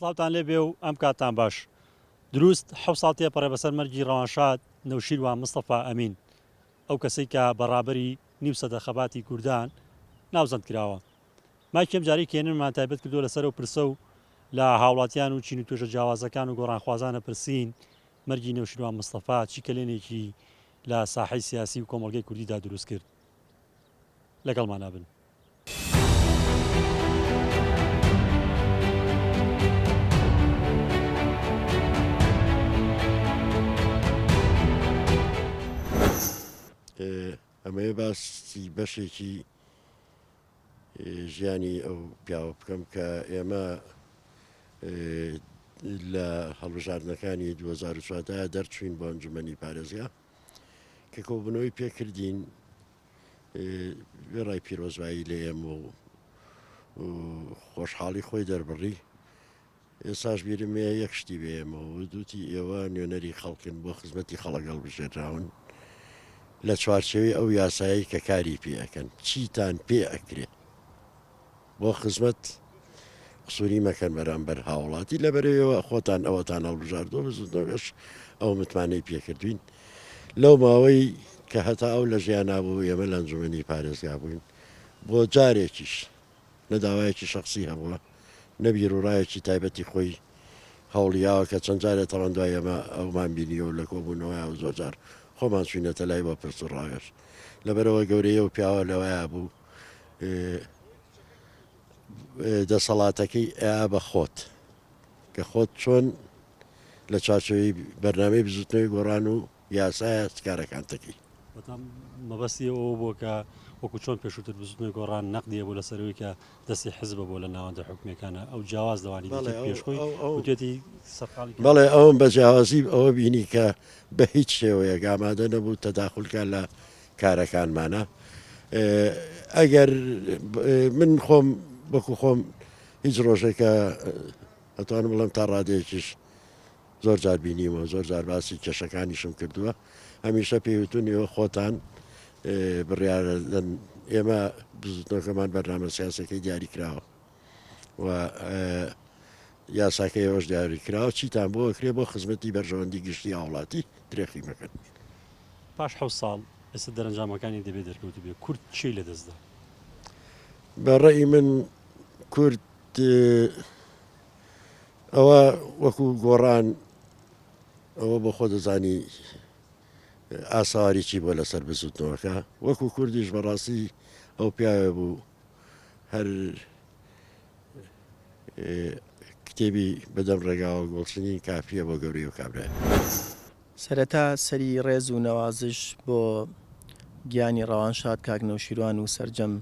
سڵاوتان لێ بێ و ئەم کاتان باش دروست ح ساڵ تێپەڕێ بەسەر مەرگی ڕەوانشاد نەوشیروان مستەفا ئەمین ئەو کەسەی کە بەڕابەری نیوسەدە خەباتی کوردان ناوزەند کراوە مایکی ئەم جارەی کێنن مان تایبەت کردووە لەسەر ئەو پرسە و لە هاوڵاتیان و چین و توێژە جیاوازەکان و گۆڕانخوازان ئەپرسین مەرگی نەوشیروان مستەفا چی کەلێنێکی لە ساحەی سیاسی و کۆمەڵگەی کوردیدا دروست کرد؟ لەگەڵمان ئەبن. ئەمەوێ باسی بەشێکی ژیانی ئەو پیاوە بکەم کە ئێمە لە هەڵبژاردنەکانی 2004 دا دەرچوین بۆ ئەنجومەنی پارێزگا کە کۆبنەوەی پێکردین وێڕای پیرۆزبایی لە ئێمە و خۆشحاڵی خۆی دەربڕی ئێستاش بیرم هەیە یەک شتی بە ئێمە وت، وتی، ئێوە نوێنەری خەڵکن، بۆ خزمەتی خەڵک هەڵبژێردراون، لە چوارچێوەی ئەو یاسایەی کە کاری پێ ئەکەن، چیتان پێ ئەکرێ بۆ خزمەت، قسووری مەکەن بەرامبەر هاوڵاتی، لە بەرەیەوە خۆتان ئەوەتان هەڵبژاردووە، بزووتنەوەش ئەو متمانەی پێ کردووین. لەو ماوەی کە هەتا ئەو لە ژیانا بوو، ئێمە لە ئەنجوومەنی پارێزگا بووین، بۆ جارێکیش، نە داوایەکی شەخسی هەبووە، نە بیروڕایەکی تایبەتی خۆی هەوڵیاوە، کە چەند جارێ تاوان دوای ئەمە ئەومان بینیوە و لە کۆبوونەوەیان زۆر جار خۆمان چووینەتە لای بۆ پرس و ڕاوێژ. لەبەرئەوە گەورەی ئەو پیاوە لەوەیا بوو دەسەڵاتەکەی ئەیا بە خۆت، کە خۆت چۆن لە چاچەوەی بەرنامەی بزوتنەوەی گۆڕان و یاسایە چ کارەکان دەکەی. واتە مەبەستی ئەوە بووە کە وەکو چۆن پێشووتر بزوتنەوەی گۆڕان نەقدی هەبوو لەسەر ئەوەی کە دەستی حزبە بۆ لە ناوەندە حکومیەکانە ئەو جیاواز لەوانی بەڵێ، دیکە ئەو- پێش خۆی ئەو- ئەو- وتێتی سەرقاڵی کار بەڵێ ئەوم بە جیاوازی ئەوە بینی کە بە هیچ شێوەیەک ئامادە نەبوو تەداخول کا لە کارەکانمانا ئێ ئەگەر ب- ئێ من خۆم وەکو خۆم هیچ ڕۆژێکە ئەتوانم بڵێم تا ڕادەیەکیش زۆر جار بینیومە و زۆر جار باسی کێشەکانیشم کردووە، هەمیشە پێی وتوون ئێوە خۆتان بڕیارە دەن، ئێمە بزووتنەوەکەمان بەرنامە سیاسەکەی دیاری کراوە و یاساکە ئێوەش دیاری کراوە چیتان بۆ کرێ بۆ خزمەتی بەرژەوەندی گشتی هاوڵاتی درێخی مەکەن. پاش حەوت ساڵ ئێستا دەرەنجامەکانی دەبێ دەرکەوت بێ کورد چی لە دەست دا؟ بە ڕەئی من کورد ئەوە وەکو گۆڕان ئەوە بۆ خۆ دەزانی ئاساری چی بۆ لەسەر بزوتنەوەکە وەکو کوردیش بەڕاستی ئەو پیاوێ بوو هەر کتێبی بەدەم ڕێگاوە گۆڵچنی کافیە بۆ گەوری و کابرا سەرەتا سەری ڕێز و نەوازش بۆ گیانی ڕەوان شاد کاک نەوشیروان و سەرجەم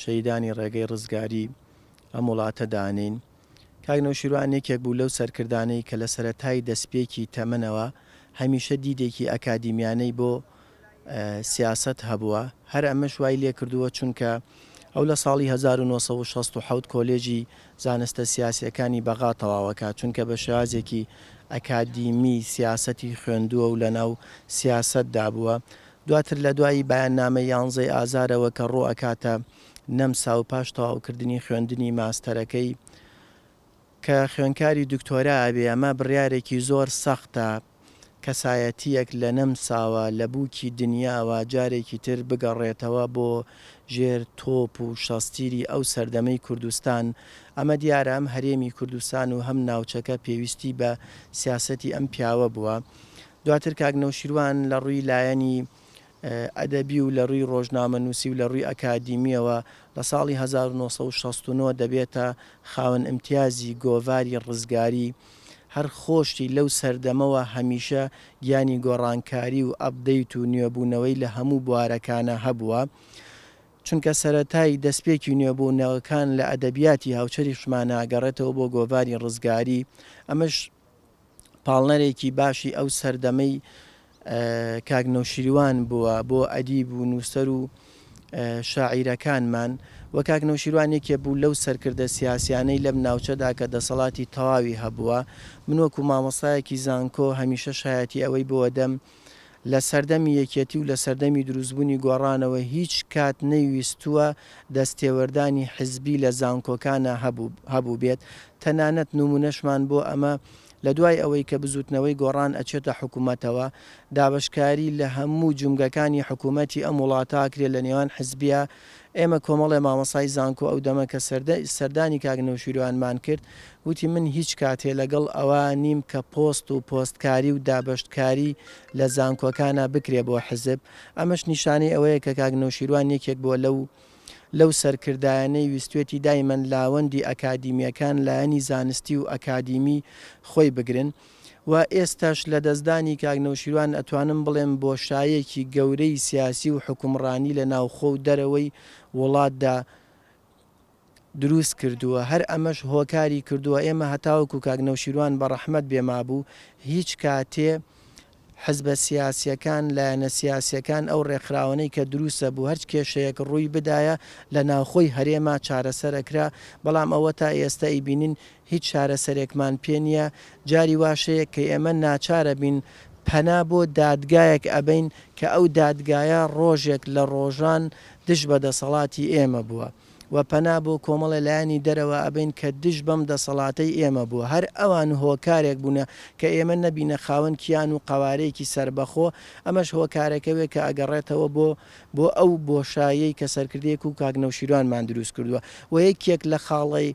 شەیدانی ڕێگەی ڕزگاری ئەم وڵاتە دانین. کاک نەوشیروان یەکێک بوو لەو سەرکردانەی کە لە سەرەتای دەسپێکی تەمەنەوە هەمیشە دیدێکی ئەکادیمیانەی بۆ سیاسەت هەبووە، هەر ئەمەش وای لێکردووە چونکە ئەو لە ساڵی هەزار و نۆ سەد و شەست و حەوت کۆلێژی زانستە سیاسییەکانی بەغا تەواوەکات چونکە بە شێوازێکی ئەکادیمی سیاسەتی خوێندووە و لەناو سیاسەتدا بووە، دواتر لە دوای بەیاننامەی یانزەی ئازارەوە کە ڕوو ئەکاتە نەمسا و پاش تەواوکردنی خوێندنی ماستەرەکەی کە خوێنکاری دکتۆرا ئەبێ ئەمە بڕیارێکی زۆر سەختە کەسایەتیەک لە نەمساوە لە بووکی دنیاوە جارێکی تر بگەڕێتەوە بۆ ژێر تۆپ و شەستیری ئەو سەردەمەی کوردستان ئەمە دیارە ئەم هەرێمی کوردستان و هەم ناوچەکە پێویستی بە سیاسەتی ئەم پیاوە بووە دواتر کاک نەوشیروان لە ڕووی لایەنی ئەدەبی و لە رووی رۆژنامەنووسی و لە رووی ئەکادیمییەوە لە ساڵی هەزار و نۆ سەد و شەست و نۆ دەبێتە خاوەن ئیمتیازی گۆڤاری رزگاری، هەر خۆشی لەو سەردەمەوە هەمیشە گیانی گۆڕانکاری و ئەپدەیت و نوێبوونەوەی لە هەموو بوارەکانا هەبووە، چونکە سەرەتای دەستپێکی نوێبوونەوەکان لە ئەدەبیاتی هاوچەرخیشمانا گەڕێتەوە بۆ گۆڤاری رزگاری، ئەمەش. پاڵنەرێکی باشی ئەو سەردەمەی کاک نەوشیروان بووە بۆ ئەدیب و نووسەر و شاعیرەکانمان و کاک نەوشیروان یەکێ بوو لەو سەرکردە سیاسیانەی لەم ناوچەدا کە دەسەڵاتی تەواوی هەبووە من وەکو مامۆستایەکی زانکۆ هەمیشە شایەتی ئەوەی بووە دەم لە سەردەمی یەکێتی و لە سەردەمی دروستبوونی گۆڕانەوە هیچ کات نەیویستووە دەستێوەردانی حزبی لە زانکۆکانا هەبووبێت، تەنانەت نمونەشمان بۆ ئەمە لە دوای ئەوەی کە بزوتنەوەی گۆڕان ئەچێتە حکومەتەوە دابەشکاری لە هەموو جومگەکانی حکومەتی ئەم وڵاتاکرێت لە نێوان حزبیە ئێمە کۆمەڵێ مامۆستای زانکۆ ئەو دەمە کە سەردانی کاک نەوشیروانمان کرد وتی من هیچ کاتێ لەگەڵ ئەوە نیم کە پۆست و پۆستکاری و دابەشتکاری لە زانکۆکانا بکرێ بۆ حزب ئەمەش نیشانەی ئەوەیە کە کاک نەوشیروان یەکێک بووە لەو لەو سەرکردایانەی ویستوێتی دایمەن لاوەندی ئەکادیمیەکان لایەنی زانستی و ئەکادیمی خۆی بگرن. و ئێستاش لە دەستدانی کاک نەوشیروان ئەتوانم بڵێم بۆشایەکی گەورەی سیاسی و حوکمڕانی لە ناوخۆ و دەرەوەی وڵاتدا دروست کردووە هەر ئەمەش هۆکاری کردووە ئێمە هەتاوەکو کاک نەوشیروان بە ڕەحمەت بێ مابوو هیچ کاتێ حزبە سیاسیەکان لایەنە سیاسیەکان ئەو ڕێکخراوەنەی کە دروست ئەبوو هەرچ کێشەیەک ڕووی بدایە لە ناوخۆی هەرێما چارەسەر ئەکرا بەڵام ئەوە تا ئێستە ئەیبینین هیچ چارەسەرێکمان پێ نییە، جاری واش هەیە کە ئێمە ناچارەبین پەنا بۆ دادگایەک ئەبەین کە ئەو دادگایە ڕۆژێک لە ڕۆژان دژ بە دەسەڵاتی ئێمە بووە و پەنا بۆ کۆمەڵێ لایەنی دەرەوە ئەبەین کە دژ بەم دەسەڵاتەی ئێمە بووە، هەر ئەوان هۆکارێک بوونە کە ئێمە نەبینە خاوەن کیان و قەوارەیەکی سەربەخۆ، ئەمەش هۆکارەکەێ کە ئەگەڕێتەوە بۆ بۆ ئەو بۆشاییەی کە سەرکردەیەک و کاک نەوشیروانمان دروست کردووە و یەکێک لە خاڵەی.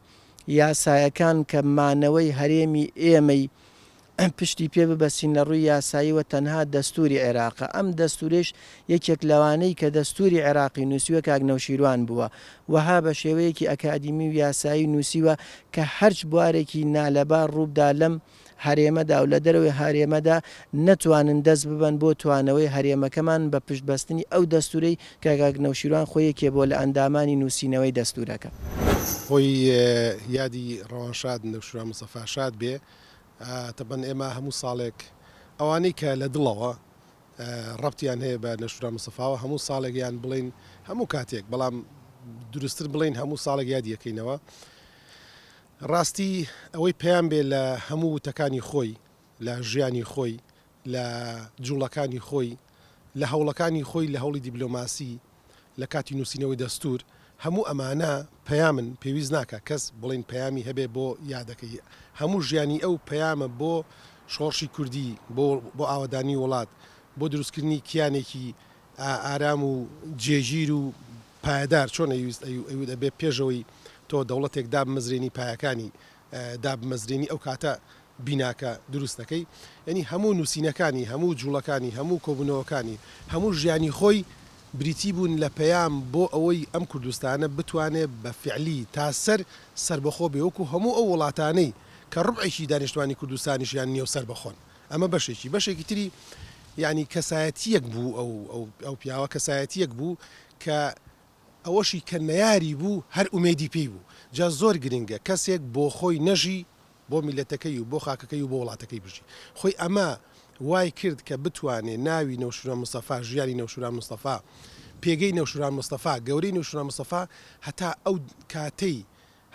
یاسایەکان کە مانەوەی هەرێمی ئێمەی پشتی پێ ببەستین لە ڕووی یاساییەوە تەنها دەستووری عێراقە، ئەم دەستوورەیش یەکێک لەوانەی کە دەستووری عێراقی نووسیوە کاک نەوشیروان بووە، وەها بە شێوەیەکی ئەکادیمی و یاسایی نووسیوە کە هەرچ بوارێکی نالەبار ڕووبدا لەم هەرێمەدا و لە دەرەوەی هەرێمەدا نەتوانن دەست ببەن بۆ توانەوەی هەرێمەکەمان بە پشت بەستنی ئەو دەستورەی کە کاک نەوشیروان خۆی یەکێ بۆ لە ئەندامانی نوسینەوەی دەستورەکە. خۆی یادی ڕەوانشاد نەوشیروان مستەفا شاد بێ تەبەن ئێمە هەموو ساڵێک ئەوانەی کە لە دڵەوە ڕەبتیان هەیە بە نەوشیروان مستەفاوە هەموو ساڵێک یان بڵێین هەموو کاتێک بەڵام دروستتر بڵێین هەموو ساڵێک یادی ئەکەینەوە. ڕاستی ئەوەی پەیام بێ لە هەموو وتەکانی خۆی، لە ژیانی خۆی، لە جوڵەکانی خۆی، لە هەوڵەکانی خۆی لە هەوڵی دیبلۆماسی، لە کاتی نووسینەوەی دەستوور، هەموو ئەمانە پەیامن، پێویست ناکا کەس بڵێین پەیامی هەبێ بۆ یادەکەی، هەموو ژیانی ئەو پەیامە بۆ شۆڕشی کوردی، بۆ ئاوەدانی وڵات، بۆ دروستکردنی کیانێکی ئارام و جێگیر و پایەدار چۆن ئەیویست ئەیوت ئەبێ پێشەوەی تۆ دەوڵەتێک دابمەزرێنی پایەکانی دابمەزرێنی ئەو کاتە بیناکە دروست دەکەی یەنی هەموو نووسینەکانی هەموو جوڵەکانی هەموو کۆبوونەوەکانی هەموو ژیانی خۆی بریتی بوون لە پەیام بۆ ئەوەی ئەم کوردستانە بتوانێ بە فعلی تا سەر سەربەخۆ بێ وەکو هەموو ئەو وڵاتانەی کە ڕوبعێکی دانیشتوانی کوردستانیشیان نیەو سەربەخۆن ئەمە بەشێکی بەشێکی تری یانی کەسایەتیەک بوو ئەو ئەو پیاوە کەسایەتیەک بوو کە ئەوەشی کە نەیاری بوو هەر ئومێدی پێی بوو جا زۆر گرنگە کەسێک بۆ خۆی نەژی بۆ میلەتەکەی و بۆ خاکەکەی و بۆ وڵاتەکەی بژی خۆی ئەمە وای کرد کە بتوانێ ناوی نەوشورە مستەفا ژیانی نەوشوران مستەفا پێگەی نەوشوران مستەفا گەورەی نەوشوران مستەفا هەتا ئەو کاتەی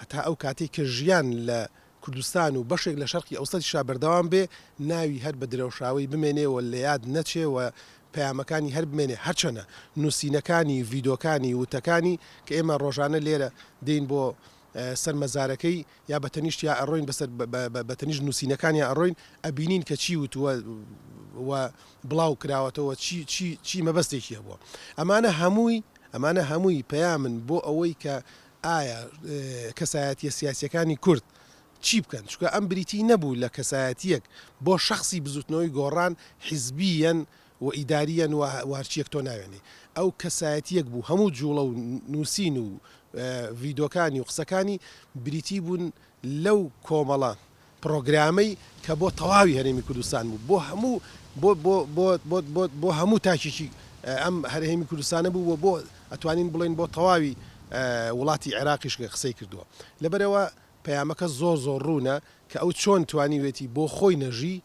هەتا ئەو کاتەی کە ژیان لە کوردستان و بەشێک لە شەرقی ئەوسەتیشا بەردەوام بێ، ناوی هەر بە درەوشاوەی بمێنێ و لە یاد نەچێ و پەیامەکانی هەر بمێنێ، هەرچەنە نووسینەکانی، ڤیدۆکانی، وتەکانی کە ئێمە ڕۆژانە لێرە دێین بۆ سەر مەزارەکەی یا بە تەنیشت یا ئەڕۆین بەسەر بە تەنیشت نووسینەکانیا ئەڕۆین ئەبینین کە چی وتووە و بڵاو کراوەتەوە چی چی چی مەبەستێکی هەبووە. ئەمانە هەمووی ئەمانە هەمووی پەیامن بۆ ئەوەی کە ئایا کەسایەتیە سیاسیەکانی کورد چی بکەن؟ چونکە ئەم بریتی نەبوو لە کەسایەتیەک بۆ شەخسی بزوتنەوەی گۆڕان حیزبیەن و ئیداریەن و وهەرچیەک تۆ ناوێنی ئەو کەسایەتیەک بوو هەموو جوڵە و نوسین و ڤیدۆکانی و قسەکانی بریتی بوون لەو کۆمەڵە پڕۆگرامەی کە بۆ تەواوی هەرێمی کوردستان بوو بۆ هەموو بۆ بۆ بۆ بۆ بۆ بۆ هەموو تاکێکی ئەم هەرێمی کوردستانە بوو و بۆ ئەتوانین بڵێین بۆ تەواوی وڵاتی عێراقیش قسەی کردووە لەبەرئەوە پەیامەکە زۆر زۆر ڕوونە کە ئەو چۆن توانیوێتی بۆ خۆی نەژی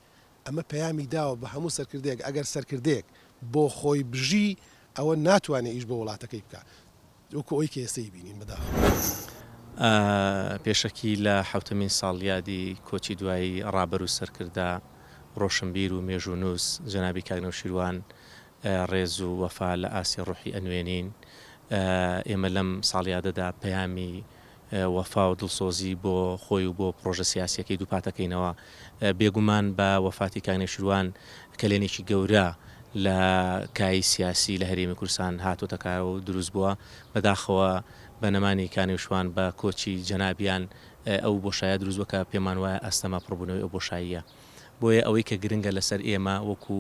ئەمە پەیامی داوە بە هەموو سەرکردەیەک ئەگەر سەرکردەیەک بۆ خۆی بژی ئەوە ناتوانێ ئیش بۆ وڵاتەکەی بکا وەکو ئەوەی کە ئێستا ئیبینین بەداخەوە. پێشەکی لە حەوتەمین ساڵیادی کۆچی دوایی ڕابەر و سەرکردە، ڕۆشنبیر و مێژوونووس جەنابی کاک نەوشیروان ڕێز و وەفا لە ئاستی ڕوحی ئەنوێنین. ئێمە لەم ساڵیادەدا پەیامی وەفا و دڵسۆزی بۆ خۆی و بۆ پڕۆژە سیاسییەکەی دووپاتەکەینەوە. بێگومان بە وەفاتی کاک نێچیروان کەلێنێکی گەورە لە کایی سیاسی لە هەرێمی کوردستان هاتۆتە کایەوە و دروست بووە. بەداخەوە بە نەمانی کاک نێوشوان بە کۆچی جەنابیان ئەو بۆشایە دروست بووە کە پێمان وایە ئەستەمە پڕبوونەوەی ئەو بۆشاییە. بۆیە ئەوەی کە گرنگە لەسەر ئێمە وەکو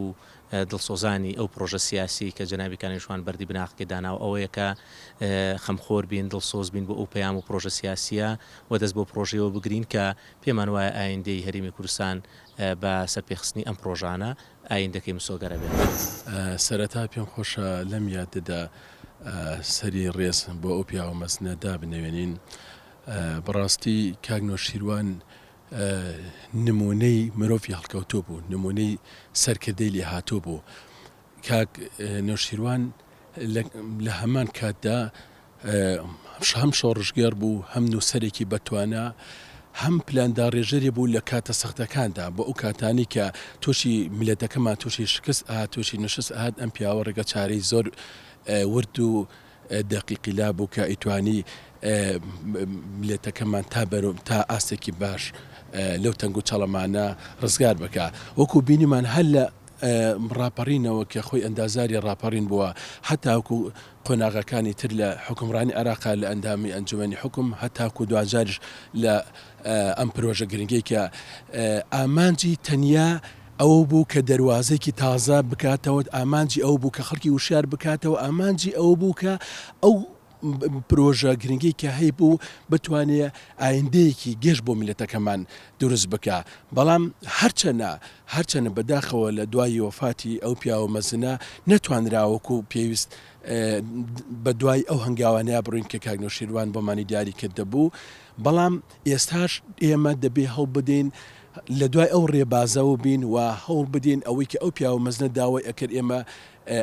دڵسۆزانی ئەو پڕۆژە سیاسیەی کە جەنابی کانی شوان بەردی بناغەکەی داناوە ئەوەیە کە خەمخۆر بین دڵسۆز بین بۆ ئەو پەیام و پڕۆژە سیاسیە و دەست بۆ پڕۆژەیەوە بگرین کە پێمان وایە ئایندەی هەرێمی کوردستان بە سەرپێخستنی ئەم پڕۆژانە ئایندەکەی مسۆگەرە بێت. سەرەتا پێم خۆشە لەم یادەدا سەری ڕێز بۆ ئەو پیاوە مەزنە دابنەوێنین. بەڕاستی کاک نەوشیروان نموونەی مرۆڤی هەڵکەوتوو بوو، نموونەی سەرکردەی لێهاتوو بوو. کاک نەوشیروان لە هەمان کاتدا هەم شۆڕشگێڕ بوو، هەم نووسەرێکی بەتوانا، هەم پلانداڕێژەری بوو لە کاتە سەختەکاندا، بۆ ئەو کاتانەی کە تووشی میللەتەکەمان تووشی شکست ئەهات، تووشی نەشست ئەهات، ئەم پیاوە ڕێگەچارەی زۆر ورد و دەقیقی لابوو کە ئەیتوانی مللەتەکەمان تا بەرو تا ئاستێکی باش لەو تەنگ و چەڵەمانە ڕزگار بکا وەکو بینیمان هەر لە ڕاپەڕینەوە کە خۆی ئەندازاری ڕاپەڕین بووە هەتاکو قۆناغەکانی تر لە حوکمڕانی عێراقا لە ئەندامی ئەنجومەنی حوکم هەتاکو دواجاریش لە ئەم پرۆژە گرنگەی کە ئامانجی تەنیا ئەو بوو کە دەروازەیەکی تازە بکاتەوە، ئامانجی ئەو بوو کە خەڵکی وشیار بکاتەوە، ئامانجی ئەو بوو کە ئەو پرۆژە گرنگەی کە هەیبوو بتوانێ ئایندەیەکی گەش بۆ میللەتەکەمان دروست بکا، بەڵام هەرچەنە هەرچەنە بەداخەوە لە دوای وەفاتی ئەو پیاوە مەزنە نەتوانرا وەکوو پێویست بە دوای ئەو هەنگاوانەیا بڕۆین کە کاک نەوشیروان بۆمانی دیاری کردبوو، بەڵام ئێستاش ئێمە دەبێ هەڵبدەین لە دوای ئەو رێبازەوە بین و هەوڵ بدەین ئەوەی کە ئەو پیاوە مەزنە داوای ئەکرد ئێمە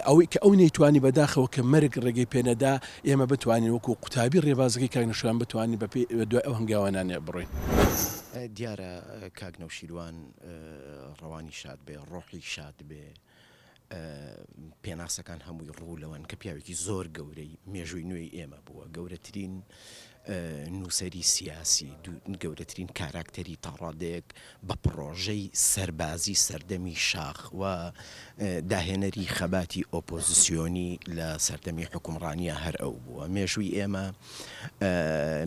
ئەوەی کە ئەو نەیتوانی بەداخەوە کە مەرگ رێگەی پێ نەدا ئێمە بتوانین وەکو قوتابی رێبازەکەی کاک نەوشیروان بتوانین بە پێی بە دوای ئەو هەنگاوانانە بڕۆین. دیارە کاک نەوشیروان رەوانی شاد بێ رۆحی شاد بێ. پێناسەکان هەمووی ڕوو لەوەن کە پیاوێکی زۆر گەورەی مێژووی نوێی ئێمە بووە گەورەترین نووسری سیاسی گەورەترین کاراکتەری تاڕادەیەک بە پڕۆژەی سەربازی سەردەمی شاخ و داهێنەری خەباتی ئۆپۆزیسیۆنی لە سەردەمی حکومڕانیە هەر ئەو بووە مێژووی ئێمە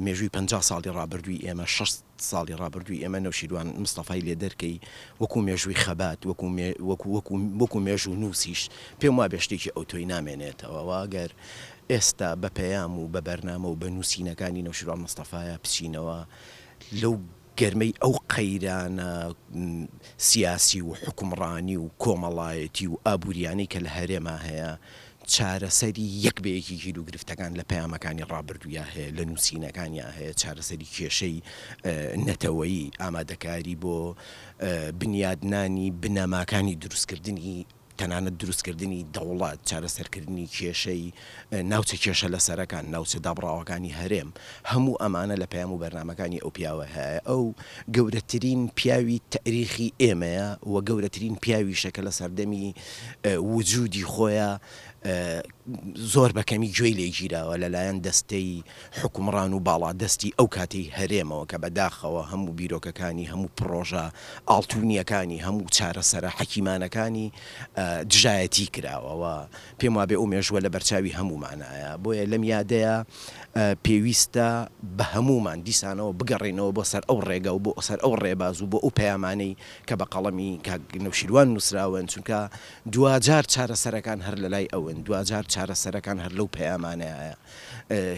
مێژووی پ ساڵی ڕابردووی ئێمە 6 ساڵی ڕابردووی ئێمە نەوشیروان مستەفای لێ دەرکەی وەکو مێژووی خەبات وەکو وەکو وەکو وەکو مێژوونووسیش پێم وابێ شتێکی ئەوتۆی نامێنێتەوە و ئەگەر ئێستا بە پەیام و بە بەرنامە و بە نووسینەکانی نەوشیروان مستەفایا بچینەوە لەو گەرمەی ئەو قەیرانە سیاسی و حوکمڕانی و کۆمەڵایەتی و ئابووریانەی کە لە هەرێما هەیە چارەسەری یەک بە یەکی کێل و گرفتەکان لە پەیامەکانی ڕابردوویا هەیە، لە نووسینەکانیا هەیە، چارەسەری کێشەی نەتەوەیی، ئامادەکاری بۆ بنیادنانی بنەماکانی دروستکردنی تەنانەت دروستکردنی دەوڵەت، چارەسەرکردنی کێشەی ناوچە کێشە لەسەرەکان، ناوچە دابڕاوەکانی هەرێم، هەموو ئەمانە لە پەیام و بەرنامەکانی ئەو پیاوە هەیە، ئەو گەورەترین پیاوی تەئریخی ئێمەیە و گەورەترین پیاویشە کە لە سەردەمی وجودی خۆیە زۆر بە کەمی گوێی لێ گیراوە لە لایەن دەستەی حوکمڕان و باڵادەستی ئەو کاتەی هەرێمەوە کە بە داخەوە هەموو بیرۆکەکانی هەموو پڕۆژە ئاڵتونیەکانی هەموو چارەسەرە حەکیمانەکانی دژایەتی کراوە و پێم وابێ ئەو مێژووە لە بەرچاوی هەموومانایە بۆیە لەم یادەیە پێویستە بە هەموومان دیسانەوە بگەڕێینەوە بۆ سەر ئەو ڕێگا و بۆ سەر ئەو ڕێباز و بۆ ئەو پەیامانەی کە بە قەڵەمی کاک نەوشیروان نووسراون، چونکە دواجار چارەسەرەکان هەر لە لای ئەون، دواجار چارەسەرەکان هەر لەو پەیامانەیە،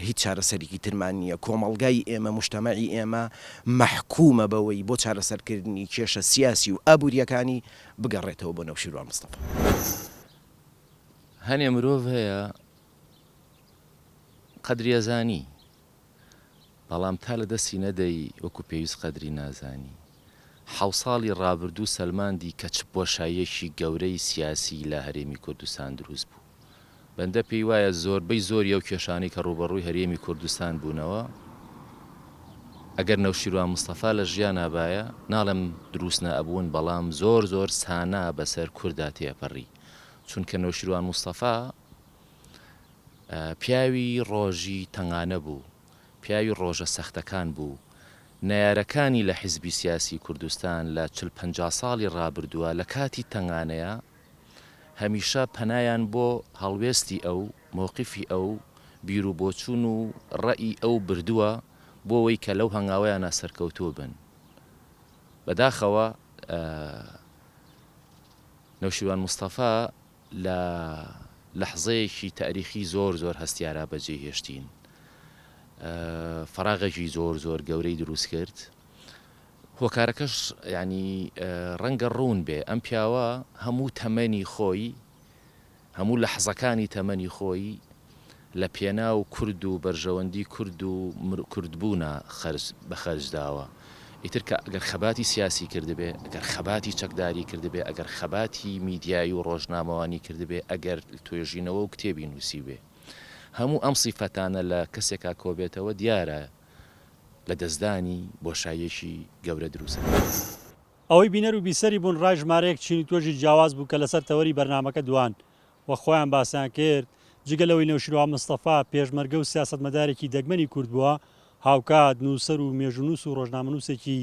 هیچ چارەسەرێکی ترمان نییە، کۆمەڵگای ئێمە، موجتەمەعی ئێمە مەحکومە بەوەی بۆ چارەسەرکردنی کێشە سیاسی و ئابوورییەکانی بگەڕێتەوە بۆ نەوشیروان مستەفا. هەنێ مرۆڤ هەیە قەدریەزانی. بەڵام تا لە دەستی نەدەی وەکو پێویست قەدری نازانی. حەو ساڵی ڕابردوو سەلماندی کە چ بۆشاییەکی گەورەی سیاسیی لە هەرێمی کوردستان دروست بوو. بەندە پێی وایە زۆربەی زۆری ئەو کێشانەی کە ڕووبەڕووی هەرێمی کوردستان بوونەوە، ئەگەر نەوشیروان مستەفا لە ژیانا بایە، ناڵێم دروست نەئەبوون، بەڵام زۆر زۆر سانا بەسەر کوردا تێئەپەڕی، چونکە نەوشیروان مستەفا پیاوی ڕۆژی تەنگانە بوو، پیاوی ڕۆژە سەختەکان بوو، نەیارەکانی لە حیزبی سیاسی کوردستان لە چل پەنجا ساڵی ڕابردووە لە کاتی تەنگانەیا هەمیشە پەنایان بۆ هەڵوێستی ئەو، مەوقیفی ئەو، بیرو بۆچوون و ڕەئی ئەو بردووە بۆوەی کە لەو هەنگاوەیانا سەرکەوتوو بن. بەداخەوە نەوشیروان مستەفا لە لەحزەیەکی تاریخی زۆر زۆر هەستیارا بەجێی هێشتین. فەراغێکی زۆر زۆر گەورەی دروست کرد. هۆکارەکەش یانی ڕەنگە ڕوون بێ، ئەم پیاوە هەموو تەمەنی خۆی، هەموو لەحزەکانی تەمەنی خۆی، لە پێناو کورد و بەرژەوەندی کورد و کورد بوونا خەرج بە خەرج داوە ئیتر کە گەر خەباتی سیاسی کردبێ گەر خەباتی چەکداری کردبێ ئەگەر خەباتی میدیایی و ڕۆژنامەوانی کردبێ ئەگەر توێژینەوە و کتێبی نووسیبێ هەموو ئەم سیفەتانە لە کەسێکا کۆبێتەوە دیارە لە دەستدانی بۆشاییەکی گەورە دروست ئەکات. ئەوەی بینەر و بیسەری بوون ڕای ژمارەیەک چین و توێژی جیاواز بوو کە لەسەر تەوەری بەرنامەکە دوان و خۆیان باسیان کرد، جگە لەوەی نەوشیروان مستەفا پێشمەرگە و سیاسەتمەدارێکی دەگمەنی کورد بووە، هاوکات نووسەر و مێژوونووس و رۆژنامەنووسێکی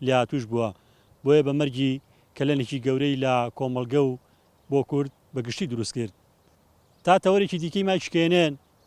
لێهاتووش بووە، بۆیە بە مەرگی کەلەنێکی گەورەی لە کۆمەڵگە و بۆ کورد بە گشتی دروستکرد. تا تەوەرێکی دیکەی مایک شکێنێن،